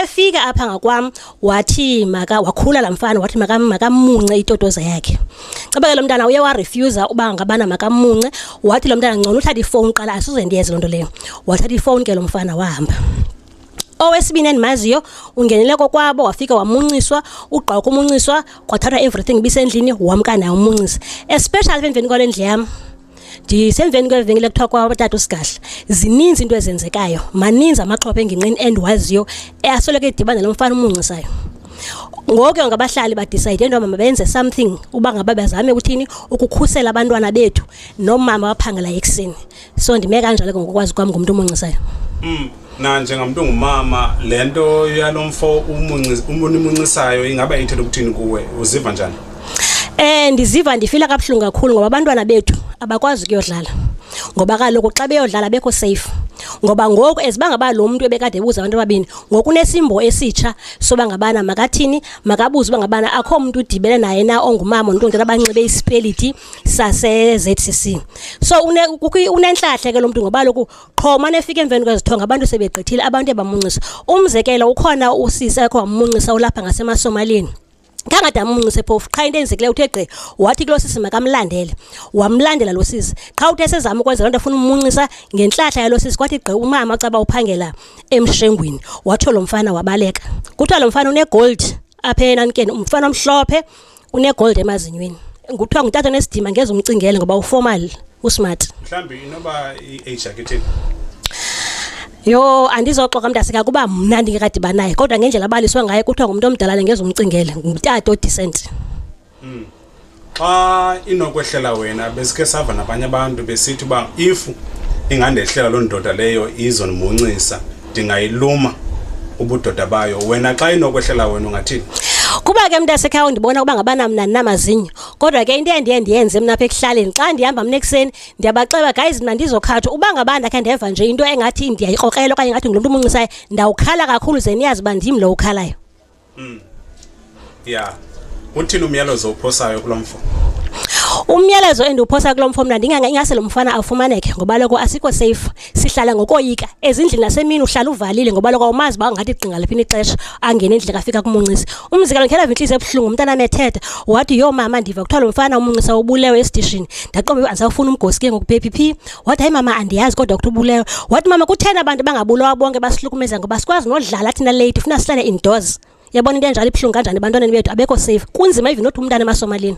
Kefika apha ngakwam wathi maka wakhula la mfana wathi maka makamunce itotoza yakhe. Caba ke lo mntana uye wa refuser uba ngabana makamunce wathi lo mntana ngcono uthatha ifone qala asize ndiyenze lonto leyo. Wathatha ifone ke lo mfana wahamba. Owesibini endimaziyo ungenele kokwabo wafika wamunciswa ugqoka umunciswa kwathathwa everything bisendlini wamka naye umuncisa especially emveni kwale ndlu yam. ndisemveni kweli venkile kuthiwa kwatata usigahla zininzi into ezenzekayo maninzi amaxhopha engingqini endiwaziyo asoloko edibana lo mfana umunxisayo ngoke ngabahlali badicide into mama benze something uba ngaba bazame ukuthini ukukhusela abantwana bethu nomama waphangela ekuseni so ndime kanjalo ke ngokwazi kwam ngumntu omunxisayo mm. na njengamntu ongumama le nto yalo mfo unimuncisayo ingaba ithetha ukuthini kuwe uziva njani Eh ndiziva ndifila kabuhlungu kakhulu ngoba abantwana bethu abakwazi ukuyodlala. Ngoba kaloku xa beyodlala bekho safe. Ngoba ngoku ezibangaba lo muntu ebekade ebuza abantu ababini, ngoku nesimbo esitsha soba ngabana makathini, makabuze uba ngabana akho umuntu udibele naye na ongumama nonto abanxibe isipeliti sase ZCC. So une unenhlahle ke lo muntu ngoba lokhu qho umane efika emveni kwezithonga abantu sebegqithile abantu ebamuncisa umzekelo ukhona usisi akho wamuncisa ulapha ngasemasomalini kangade amunxuse phofu qha into enzekileyo uthe gqi wathi kulo sisi makamlandele wamlandela lo sisi qha uthe sezama ukwenza loo nto afuna umunxisa ngentlahla yalo sisi kwathi gqi umama caba uphangela emshengwini watsho lo mfana wabaleka kuthiwa lo mfana unegold apha enamkeni umfana omhlophe unegold emazinyweni nguthiwa ngutata nesidima ngeze umcingele ngoba uformal usmart mhlawumbi inoba i-age yaketheni yho andizoxoka mntasika kuba mna ndingekadiba naye kodwa ngendlela abaliswe ngaye kuthiwa ngumntu omdala lengeza umcingele ngumtata odecent hmm. xa inokwehlela wena besike sava nabanye abantu besithi uba if ingandehlela loo ndoda leyo izondimuncisa ndingayiluma ubudoda bayo wena xa inokwehlela wena ungathini kuba ke mntasekhaya undibona ukuba ngabana mna ndinamazinyo kodwa ke into endiye ndiyenze mna apha ekuhlaleni xa ndihamba mna ekuseni ndiyabaxeba guys mna ndizokhatha uba ngaba ndakhe ndeva nje into engathi ndiyayikrokrela okanye ngathi ngulomntu umunxisayo ndawukhala kakhulu ze niyazi uba ndim lo ukhalayo Mm. Yeah. Uthini umyalezo ophosayo kulomfo? umyalezo endiwuphosa kulo mfo mna ndinganga ingase lo mfana afumaneke ngoba loko asikho safe sihlala ngokoyika ezindlini nasemini uhlala uvalile ngoba loko awumazi uba ungathi igqinga liphi ixesha angene endlini kafika kumuncisa umzekelo ndikhe ndava intliziyo ebuhlungu umntana amethetha wathi yho mama ndiva kuthiwa lo mfana umuncisa ubulewe esidishini ndaqombe uba ndisawufuna umgosi ke ngoku baby phi wathi hayi mama andiyazi kodwa ukuthi ubulewe wathi mama kutheni abantu bangabulawa bonke basihlukumeza ngoba sikwazi nodlala thina late funa sihlale indoors yabona into enjalo ibuhlungu kanjani ebantwaneni bethu abekho safe kunzima even nothi umntana emasomalini